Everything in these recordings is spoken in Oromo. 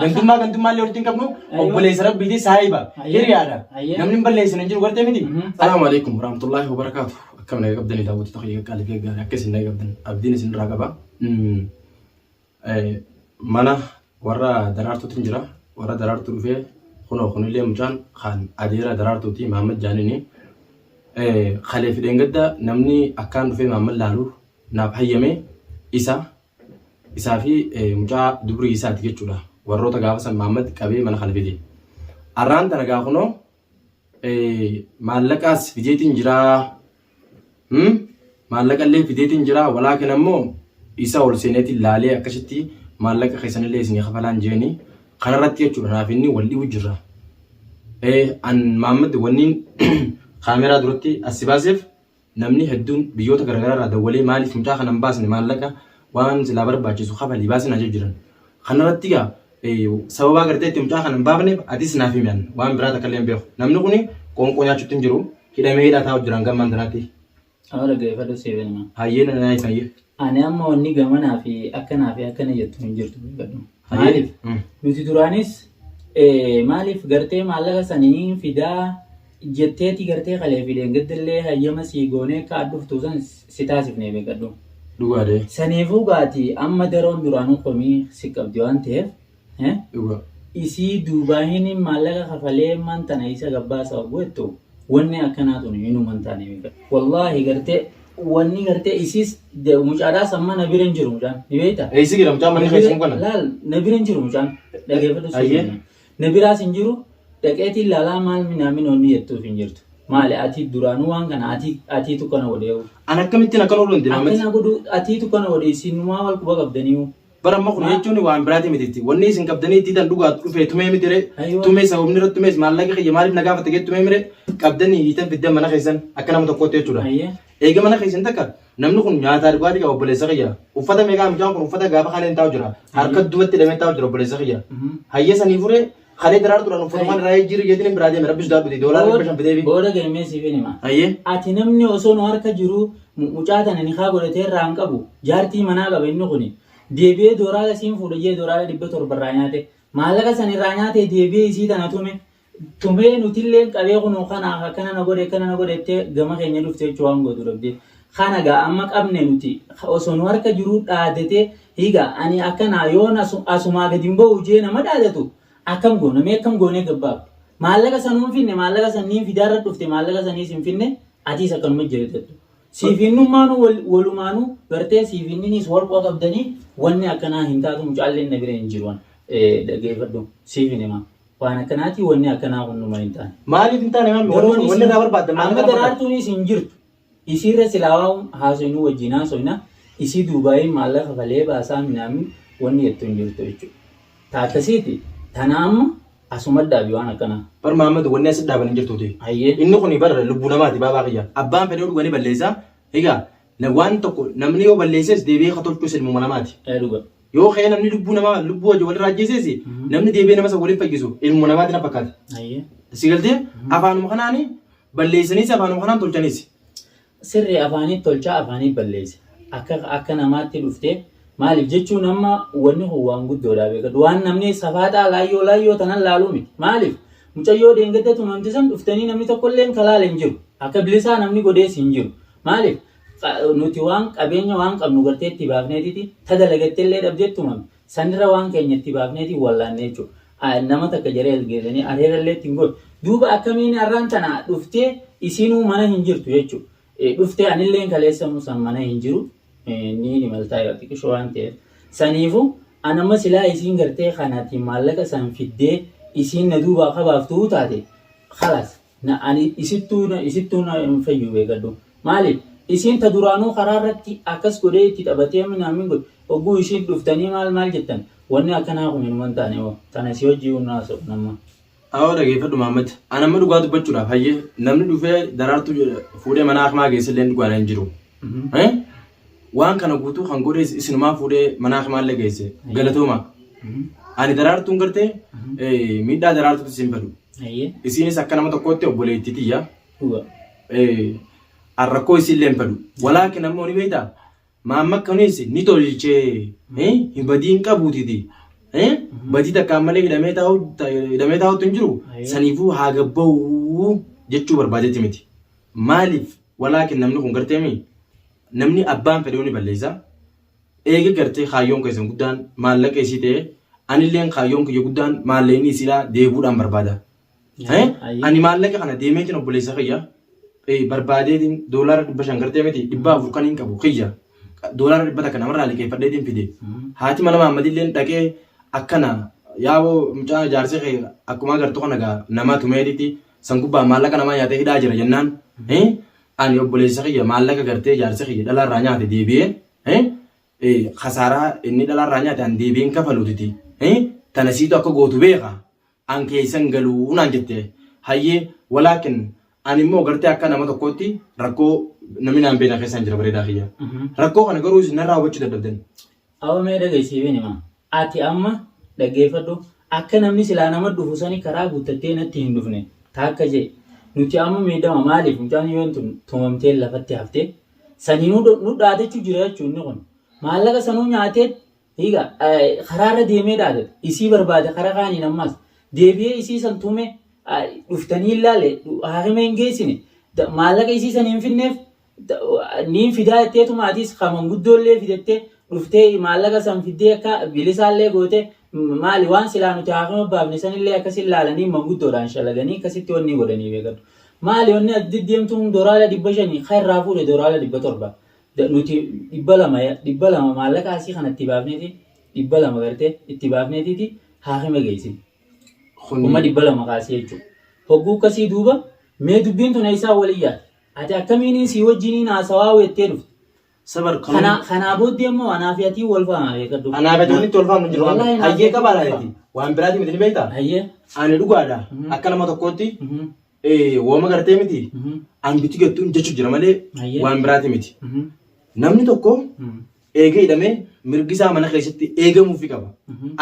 Gandummaa gandummaa illee walitti hin qabnu obboleessa rabbiiti saahiba hiriyaadha. Namni hin balleessin hin jiru gartee miti. Salaamu alaikum warahmatullahi wabarakaatu. Akkam naga qabdanii daawwattoota kiyya gaarii fi gaarii akka isin naga qabdan abdiin isin irraa qaba. Mana warra daraartuutu hin jira. Warra daraartuu dhufee kunoo kunillee mucaan kan adeera daraartuuti Mahammad Jaanini. Kalee fi dheengadda namni akkaan dhufee Mahammad laalu naaf hayyame isa isaa fi mucaa dubrii isaati jechuudha. Warroota gaafa san Maammad qabee mana kana fide. Arraan tana gaa kunoo maallaqaas fideetiin jiraa. Maallaqa illee fideetiin jiraa. Walaakin ammoo isa ol seeneetiin laalee akkasitti maallaqa keessan illee isin kafalaan jeeni. Kanarratti jechuudha naaf inni wal dhibu jirra. An Maammad wanniin kaameraa duratti as si baaseef Namni hedduun biyyoota garagaraarraa dawwalee maaliif mucaa kana hin baasne maallaqa waan silaa barbaachisu kafalii baasi naan jechuu jiran. Kanarratti egaa sababa agartee itti mucaa kana hin baafneef atis naaf himi an waan biraa takka illee hin beeku. Namni kun qoonqoo nyaachuutti hin jiru hidhamee hidhaa taa'u jiran gammaan tanaatti. Haala gaheeffadhu siif hin hima. Hayyee na na ibsi hayyee. Ani amma wanni gamanaa fi akkanaa fi akkana jettu hin jirtu beekadhu. Hayyee. Maaliif? Mm. Nuti duraanis eh, maaliif gartee maallaqa sanii fidaa jetteeti gartee kalee fi dheengaddallee hayyama sii goonee akka aad dhuftu san si taasifne beekadhu. Dhugaadhe. Saniifuu gaati amma daroon duraanuu komii si qabdi waan ta'eef Isii duubaa hiniin maallaqa kafalee man tana isa gabbaasa oguu ettu wanni akkanaa tun hinuu man taane mika. Wallaahi gartee wanni gartee isiis mucaadhaa samma na bira hin jiru mucaan ni beekta. Eessi jira mucaan manni keessa kun kana? Laal na bira hin jiru mucaan dhageeffadhu Ayyee. suuta. Na biraas hin jiru dhaqeetiin laalaa maal minaamin wanni jettuuf hin jirtu. Maali ati duraanuu waan kana ati atiitu kana godheewu. An akkamittiin akkan oolu hin dinaa miti. Akkana godhu atiitu kana godhe isiinumaa wal quba qabdaniiwu. Bara amma kun jechuun waan biraati mititti. Wanni isin qabdanii diidan dhugaa dhufee tumee miti ree. Ayyo. Tumee sababni irratti tumees maallaqa kiyya maaliif na gaafate gee tumee mire qabdanii hiitan fiddan mana keessan akka nama tokkootti jechuudha. Ayyo. Eega mana keessan takka namni kun nyaataa dhugaatii qaba obboleessa kiyya. Uffata meeqaa mucaan kun uffata gaafa kaleen taa'u jira. Harka duubatti hidhamee taa'u jira obboleessa kiyya. Mhm. Hayya sanii furee Kalee daraartuudhaan uffatumaan irraa jijjiirri jeetiin hin biraa deeme rabbi sodaadhu ta'e doolaara dhibba shan fidee fi. Booda galmee siif hin hima. Ayyee. Ati namni osoo nu harka jiru mu- mucaa tana nikaa godhatee irraa hin qabu. Jaartii manaa qaba inni kuni. Deebi'ee dooraala siin fuudha jee dooraala dhibba torba irraa nyaate. Maallaqa san irraa nyaatee deebi'ee isii tana tume. Tumee nutilleen qabee kunoo kana akkana na godhe akkana na godhe jettee gama keenya dhufte jechuu waan gootu dhabdee. Kana gaa amma qabne nuti osoo nu harka jiruu dhaadatee Higa, Ani akkanaa yoon asumaa gad hin ba'u jee nama dhaadatu akkam goona mee akkam goonee gad baafna? Maallaqa sanuu hin finne maallaqa san niin fidaa irra dhufte maallaqa saniis hin finne atiis akkanuma jiratadhu. Siif innummaanuu walumaanuu gartee siif inniniis walqoo qabdanii wanni akkanaa hin taatu mucaalleen na bira hin jiru an dhageefadhu siif hin himaa waan akkanaatii wanni akkanaa kun numa hin taane. Maaliif hin taane maammi? Wanni irraa barbaaddan maal irraa barbaaddan? Amma daraartuunis hin jirtu. Isiirra silaa waan haasoynu wajjiin haasoyna, isii duubaayiin maallaqa kafalee baasaa minaamin wanni jettu hin jirtu jechuudha. Ta akkasiiti tana amma asuma dhaabi waan akkanaa. Bar Mahammad wanni asi dhaaban hin jirtuuti. Hayyee. Inni kuni bar lubbuu namaati baabaa kiyya. Abbaan fedhee dhuga ni balleessa. Egaa na- waan tokko namni yoo balleesses deebi'ee ka tolchus ilmuma namaati. Ee dhuga. Yoo ka'ee namni lubbuu namaa lubbuu wajjin walirra ajjeeses namni deebi'ee nama san waliin fayyisu ilmuma namaati na fakkaate. Hayyee. Si galtee afaanuma kanaani Balleeysaniis afaanuma kanaan tolchaniis. Sirri afaaniit tolchaa afaaniit balleeysa. Akka akka namaatti dhuftee maaliif jechuun amma wanni kun waan guddoodhaa beekadhu. Waan namni safaaxaa laayyoo laayyoo tanan laaluu miti. Maaliif mucayyoo deengadda tumamte san dhuftanii namni tokkolleen ka laale hin jiru. Akka bilisaa namni godhees hin jiru. Maaliif nuti waan qabeenya waan qabnu gartee itti baafneetiti ta dalagattellee dhabdee tumamte. Sanirra waan keenya itti baafneeti wallaanne jechuudha. A- Nama takka jaree as geessanii areera illee ittiin godhu. Duuba akkamiin har'aan tana dhuftee isiinuu mana hin jirtu jechuudha. Eh, Dhuftee anilleen kaleessanuu san mana hin jiru. Eh, Ni ni maltaa yoo xiqqisho waan ta'eef. Saniifu anamma silaa isiin gartee kanaatiin maallaqa san fiddee isiin na duubaa kabaaftuu taate. Khalaas. Na ani isittuu na isittuu na hin fayyuu beekadhu. Maaliif? Isiin ta duraanuu karaa irratti akkas godhee itti taphatee minaamin godhe hogguu isiin dhuftanii maal maal jettan wanni akkanaa kun hinuma hin taane hoo tana si hojjiyyuu hin haasofnu amma. Awoo dhageeffadhu Mahammad an amma dhugaa dubbachuudhaaf hayyee namni dhufee Daraartuu fuudhee mana akmaa geesselleen dhugaadha hin jiru. Waan kana guutuu kan godhees isinumaa fuudhee manaa kimaallee geesse galatoomaa. Ani daraartuun gartee eh, miidhaa daraartuutti isin fadu. Ayyee. Isiinis akka nama tokkootti obboleettii tiyya. Dhuga. Eh, an rakkoo isiillee hin fadu. Walaakin ammoo ni beektaa? Maamma kunis ni tolchee eh, hin badii hin qabuutiti. Eh, badii takkaan malee hidhamee taa'u- ta- hidhamee taa'utti hin jiru. Ayyee. Saniifuu haa gabba'u jechuu barbaadetti miti. Maaliif walaakin namni kun gartee mi namni abbaan fedhee ni balleessa eega gartee kaayyoon keessan guddaan maallaqa isii ta'e anilleen kaayyoon kiyya guddaan maallaqni isiidhaa deebuudhaan barbaada. Eh, Ani maallaqa kana deemeetiin obboleessa kiyya eh, barbaadeetiin doolaara dhibba shan gartee miti dhibba afur kan hin qabu kiyya doolaara dhibba takka namarraa liqeeffadheetiin fide haati mana maammadilleen dhaqee akkana yaaboo mucaa jaarsi kee akkuma agartu kana gaa namaa tumeetitti San gubbaa maallaqa namaa nyaatee hidhaa jira jennaan ani obboleessa kiyya maallaqa gartee jaarsa kiyya dhalaarraa nyaate deebi'ee kasaaraa inni dhalaarraa nyaate an deebi'een kafaluutiti tana siitu akka gootu beeka an keessan galuu naan jette hayyee walaakin ani immoo gartee akka nama tokkootti rakkoo namni naan beena keessaan jira bareedaa kiyya rakkoo kana garuu isin narraa hubachuu dadhabdan Abo mee dhaga'i siifin hima. Ati amma dhaggeeffadhu akka namni silaa nama dhufu sani karaa guuttattee natti hin dhufne taakka je'e. Nuti amma miidhama maaliif mucaan yoon tun tumamtee lafatti hafte saniinuu nu dhaadachu jira jechuu inni kun. Maallaqa sanuu nyaateet higa karaarra deemee dhaadate isii barbaade kara kaaniin ammaas deebi'ee isii san tume dhuftanii hin laale haakima hin geessine maallaqa isii san hin finneef niin fidaa jetteetuma atis ka manguddoollee fidattee dhuftee maallaqa san fiddee akka bilisaallee goote maali waan silaa nuti haafama baafne sanillee akkasin laalanii manguddoodhaan shalaganii akkasitti wanni godhanii beekadhu maali wanni ati deddeemtuun doraala dhibba shanii ka irraa fuudhe doraala dhibba torba nuti dhibba lama dhibba lama maallaqa asii kana itti baafneeti dhibba lama gartee itti baafneetiiti haafama geessin kuma dhibba lama kaasee jechuudha hogguu akkasii duuba mee dubbiin tun eessaa waliyyaa Ati akkamiiniin sii wajjiniin haasawaa weettee dhufte? Sabar kanuu. Kanaa kanaa booddee immoo anaa fi atii wal faamaa beekadhu. Anaa fi walitti wal faamnu jiru waan Wallaahi ta'eef. Hayyee qabaa naaf laaleeti. Waan biraatii miti ni beektaa? Hayyee. Ani dhugaadha. Mhm. Akka nama tokkootti Mhm. eh, wooma gartee miti. Mhm. An biti gattuun jechu jira malee Hayyee. waan biraatii miti. Mhm. Namni tokko Mhm. Eega hidhamee mirgi isaa mana keessatti eegamuufi qaba.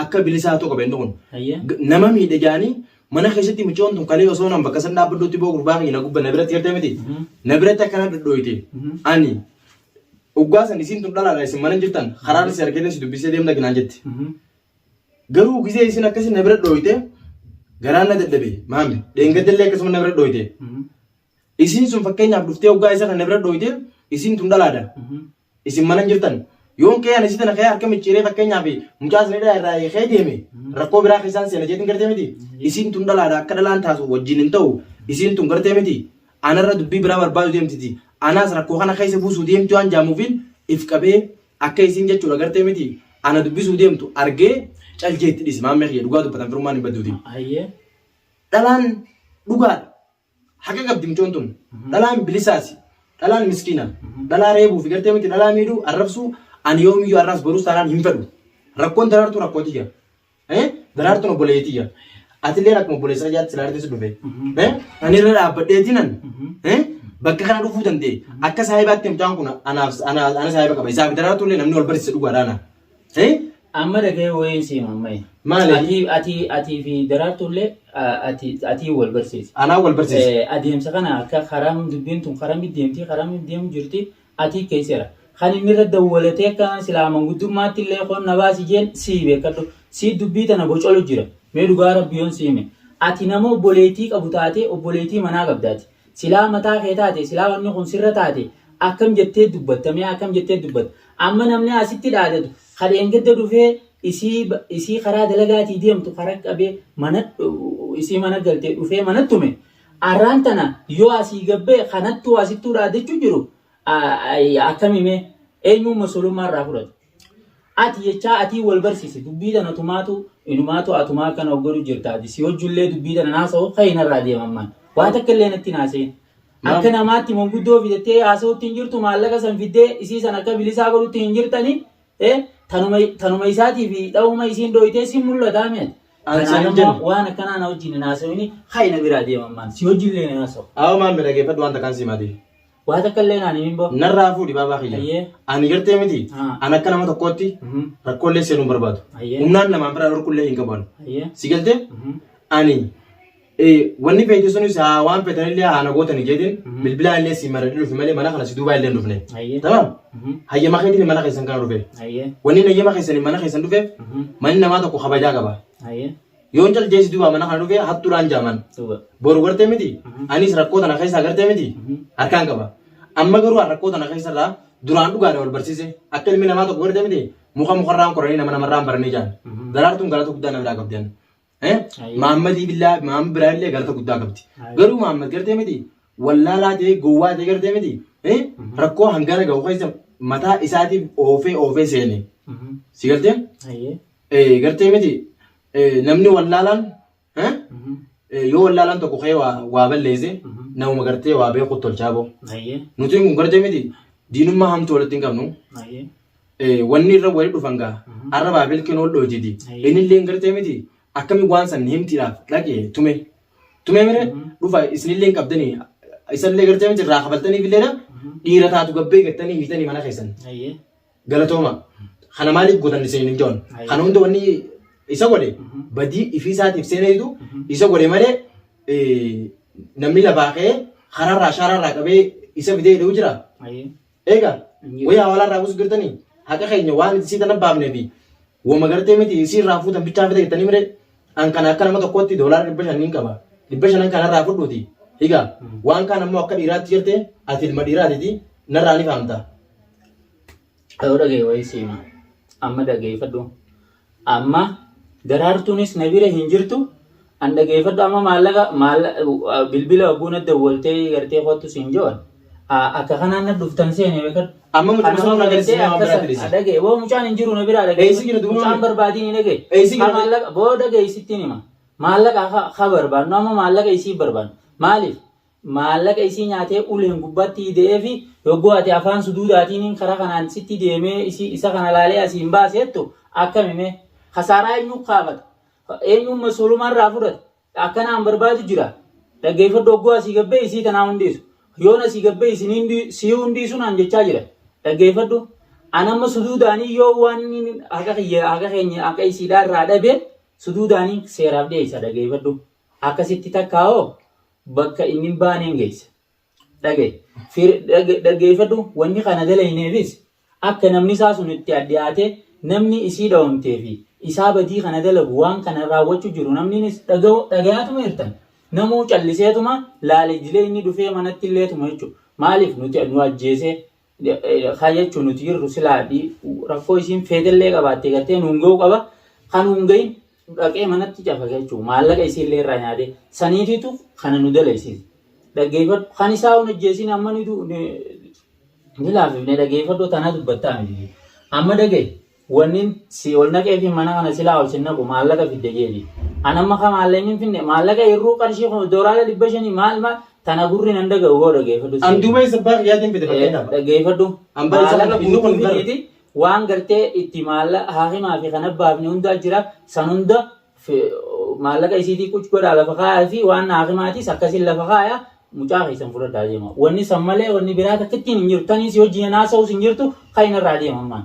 Akka bilisaa ta'u qaba inni kun. Hayyee. G- Nama miidhe jaanii mana keessatti micoon tun kalee osoo nan bakka san dhaabbadduutti boo gurbaa kiyya na gubba na biratti gartee miti. Na biratti akkana dhodhooyte. Ani oggaa san isiin tun dhalaadha isin mana hin jirtan karaa si argee si dubbisee deemna ginaan jetti. Garuu gisee isin akkasi na bira dhooyte garaan na dadhabe maami dheengadallee akkasuma na bira dhooyte. Isiin sun fakkeenyaaf dhuftee oggaa isa kan na bira dhooyte isiin tun dhalaadha. Isin mana hin jirtan. Yoon kee ani si tana kee harka micciiree fakkeenyaaf mucaa isin hidhaa irraa hiikee deeme rakkoo biraa keessaan seena jeetiin gartee miti. Isiin tun dhalaadha akka dhalaan taatu wajjin hin ta'u. Isiin tun gartee miti. Anarra dubbii biraa barbaadu deemtiti. Anaas rakkoo kana keessa buusuu deemti waan jaamuufiin if qabee akka isiin jechuudha gartee miti. Ana dubbisuu deemtu argee cal jeetti dhisi maammee kiyya dhugaa dubbatan firummaan hin badduuti. Ayyee. Dhalaan dhugaadha. Haqa qabdi mucoon tun. Dhalaan bilisaasi. Dhalaan miskiina. Dhalaa reebuu fi gartee miti dhalaa miidhuu arrabsuu ani yoomiyyuu arraas boruus taanaan hin fedhu. Rakkoon daraartuu rakkoo tiyya. Eh? Daraartuun obboleeyyi tiyya. Atilleen akkuma obboleessa kiyyaatti silaa irratti si dhufe. Eh? Ani irra dhaabbadheetinan. Eh? Bakka kana dhufuu danda'e. Akka saahibaatti mucaan kun anaaf ana ana saahiba qaba. Isaa fi daraartuullee namni wal barsiise dhugaadhaana. Eh? Amma dhagee wayiin siima ammayya. Maali? Ati ati ati fi daraartullee a- ati ati wal barsiisi. Anaa wal barsiisi. Eh, Adeemsa kana akka karaa dubbiin tun karaa mid deemti karaa mid deemu jirti ati keesseera. Kan inni irra dawwalatee akka silaa manguddummaatti illee koon na baasi jeen sii beekadhu. Sii dubbii tana bocolu jira. Mee dhugaa rabbi yoon siime. Ati nama obboleettii qabu taatee obboleettii manaa qabdaati. Silaa mataa kee taate silaa wanni kun sirra taate akkam jettee dubbatta mee akkam jettee dubbatta amma namni asitti dhaadatu ka dheengadda dhufee isii isii karaa dalagaatii deemtu karaa qabee mana isii mana galtee dhufee mana tume arraan tana yoo asii gabbee kanattuu asittuu dhaadachuu jiru akkami mee eenyuun masulummaa irraa fudhatu. Ati jechaa atii wal barsisi dubbii tana tumaatu inumaatu atumaa akkana of godhu jirta ati si hojjullee dubbii tana naasa'u ka'e narraa deema ammaan waa takka illee natti naaseen Maam. akka namaatti manguddoo fidattee haasa'utti hin jirtu maallaqa san fiddee isii san akka bilisaa godhutti hin jirtani eh, tanuma, tanuma isaatii fi dha'uma isiin dhooytee si mul'ataa mi'ati An kanaan saniin ammoo jennu. waan akkanaa na wajjin hin haasa'ini ka'e na biraa deema ammaan si hojjullee hin haasa'u Awa maammi dhageeffadhu wanta kan simaati. Waa takka illee naan himin boo. Narraa fuudhi baabaa kiyya. Ayyee. Ani gartee miti. Ah. An akka nama tokkootti Mhm. rakkoollee seenuu hin barbaadu. Ayyee. Humnaan namaan biraa dhorkullee hin qabu. ani. Ayyee. Si galtee? Mhm. Ani eh, wanni feete sunis haa waan feetanillee haa na gootani jeetiin Mhm. bilbilaa illee si maradhee dhufe malee mana kana si duubaa illee hin dhufne. Ayyee. Tamam? Mhm. Hayyama keetiin mana keessan kana dhufe. Ayyee. Wanni hayyama keessaniin mana keessan dhufeef Mhm. manni namaa tokko kabajaa qaba. Ayyee. Yoon caljeessi duuba mana kana dhufee hattuudhaan jaaman. Boru gartee miti anis rakkoo tana keessaa gartee miti harkaan qaba. Amma garuu an rakkoo tana keessarraa duraan dhugaadha wal barsiise akka ilmi namaa tokko gartee miti muka mukarraan koranii nama namarraan baranii jaan. Daraartuun galata guddaa na biraa qabdi ani. Eh? Maammadii billaa maamma biraa illee galata guddaa qabdi. Garuu maammad gartee miti wallaalaa ta'ee gowwaa ta'ee gartee miti eh? rakkoo hangana gahu keessa mataa isaatiif oofee oofee seene. Si galtee? Eh, gartee miti eh, namni wallaalaan eh, Mhm. eh, yoo wallaalaan tokko ka'ee waa, waa balleesse Mhm. namuma gartee waa beekuut tolchaa boo Ayyee. nuti kun gartee miti diinummaa hamtuu walitti hin qabnu Ayyee. eh, wanni irra wali dhufan gaa Mhm. arra baabel kee nool dhooytiti Ayyee. inni illee gartee miti akkami waan san himtiidhaaf dhaqe tume tume mire Mhm. dhufa isinillee hin qabdanii isallee gartee miti irraa kafaltaniif illeedha Mhm. dhiira taatu gabbee gattanii miitanii mana keessan Ayyee. Galatooma. Kana maaliif gootan isin hin joon? Ayi. Kana hunda wanni isa godhe Mhm. badii ifii isaatiif seeneetu Mhm. isa godhe malee eh, namni lafaa ka'ee karaarraa shaaraarraa qabee isa fidee hidhuu jira. Ayi. Eega Hin jiru. wayii hawaalaarraa buusu jirtanii haqa keenya waan itti siitan abbaafnee fi wama gartee miti isii irraa fuutan bichaa fida jettanii mire an kana akka nama tokkootti doolaara dhibba shaniin qaba dhibba shanan kana irraa fudhuuti higa waan kaan ammoo akka dhiiraatti jirte ati ilma dhiiraatiti narraa ni fahamta Yoo dhagee wayii siima. Amma dhageeffadhu. Amma daraartuunis na bira hin jirtu. An dhageeffadhu amma maallaqa bilbila wagguu na dawwaltee gartee kottu siin joon. Akka kanaan na dhuftan seene beekadhu. Amma mucaan sun na dhagee waan biraa dhagee. Dhagee boo mucaan hin jiru na bira dhagee. Eessi jira duuba? Mucaan barbaadiin hin dhagee. Eessi jira? Maallaqa boo dhagee isittiin hima. Maallaqa ka barbaannu amma maallaqa isii barbaannu. Maaliif? maallaqa isii nyaatee uleen gubbatti ide'eefi yogguu ati afaan suduudaatiiniin karaa kanaan sitti deemee isii isa kana laalee asii hin baase jettu akkami mee? Kasaaraa eenyuu kaafata? Eenyuun mas'uulummaa irraa fudhata? Akkanaan barbaadu jira. Dhaggeeffadhu yogguu asii gad ba'e isii tanaa hundeessu. Yoon asii gad ba'e isin hundii sii hundiisu naan jechaa jira. Dhaggeeffadhu. An amma suduudaanii yoo waan inni haqa kiyya haqa keenya haqa isiidhaa irraa dhabe suduudaanii seeraaf dhiyeessa dhaggeeffadhu. Akkasitti takkaa hoo bakka inni hin baaneen geessa. Dhaga'i. Fir- dhage- Dhaggeeffadhu wanni kana dalayneefis akka namni isaa sun itti addiyaatee namni isii dhawamtee fi isaa badii kana dalagu waan kana raawwachuu jiru namniinis dhaga'u dhagayaatuma jirtan. Namuu calliseetuma laale jilee inni dhufee manatti illeetuma jechuudha. Maaliif nuti nu ajjeesee Kaa jechuun nuti jirru silaa rakkoo isiin feetellee qabaattee gartee nuun ga'uu qaba. Kan nuun ga'in dhaqee manatti cafaka jechuudha. Maallaqa isiillee irraa nyaatee saniitiitu kana nu daleessise. Dhaggeeffadhu kan isaa hin hojjeessin amma ni laafifne dhaggeeffadhu tanaa dubbattaa miti. Amma dhagee. Wannin si ol naqee fi mana kana silaa ol sin naqu maallaqa fidde jeeni. An amma ka maallaqa hin finne maallaqa hirruu qarshii kuma doolaara dhibba shanii maal maal tana gurri nan dhaga'u boo dhageeffadhu An siree. duuba isa abbaa kiyyaatiin fide fakkeenyaaf. Dhageeffadhu An bara isa maallaqa kana fiduu kun fiduutu hin fidiiti waan gartee itti maallaqa haakimaa fi kana baafne hundaa jira san hunda fi- maallaqa isiitii quc godhaa lafa kaayaa fi waan haakimaatiis akkasiin lafa kaayaa mucaa keessan fudhadhaa deema. Wanni san malee wanni biraa takkittiin hin jirtu tanii si wajjin hin haasa'us hin jirtu kan irraa deema ammaan.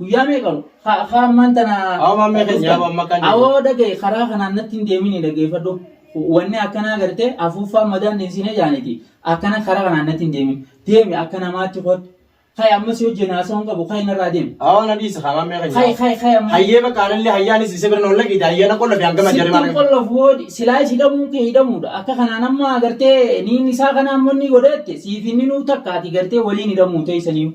Guyyaa meeqa ka- ka ammaan tana Awo mammee keenya, dhuftan? awo amma kan deemu. Awoo dhagaye karaa kanaan natti hin deemini dhageeffadhu. Wanni akkanaa gartee afuuffaan madaan deensinee jaaniti. Akkana karaa kanaan natti hin deemin. Deemi akka namaatti koodhu. Kai ammas yoo jenna haasoo hin qabu kai narraa deemi. Awo na dhiisa haa mammee keenya. Kai kai kai ammas. Hayyee bakka anallee hayyaanis isa bira na walla giita hayyaana qolla fi hangama jarri Sittin mammee. qollaf woodi silaa is hidhamuun kee hidhamuudha. Akka kanaan amma gartee niin isaa kanaan monni godheette siif inni nuu takkaati gartee waliin hidhamuu teessaniiru.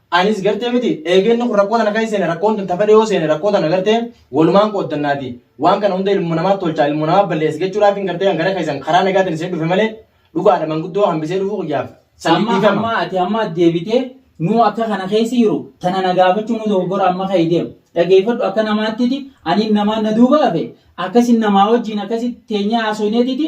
Anis gartee miti eegee inni kun rakkoo tana keessa seene rakkoon tun tafadhe yoo seene rakkoo tana gartee walumaan qooddannaati waan kana hunda ilmoo namaatti tolchaa ilmoo namaa balleessa jechuudhaafin gartee an gara keessan karaa nagaatiin isin dhufe malee dhugaadha manguddoo hambisee dhufuu kiyyaaf saniif Amma dhiifama. amma ati amma as deebitee nuu akka kana keessa jiru tana na gaafachuu nuu dogoggora amma ka'e deema. Dhageeffadhu akka namaattiti ani namaan na duuba hafe akkasin namaa wajjin akkasitti teenyee haasofneetiti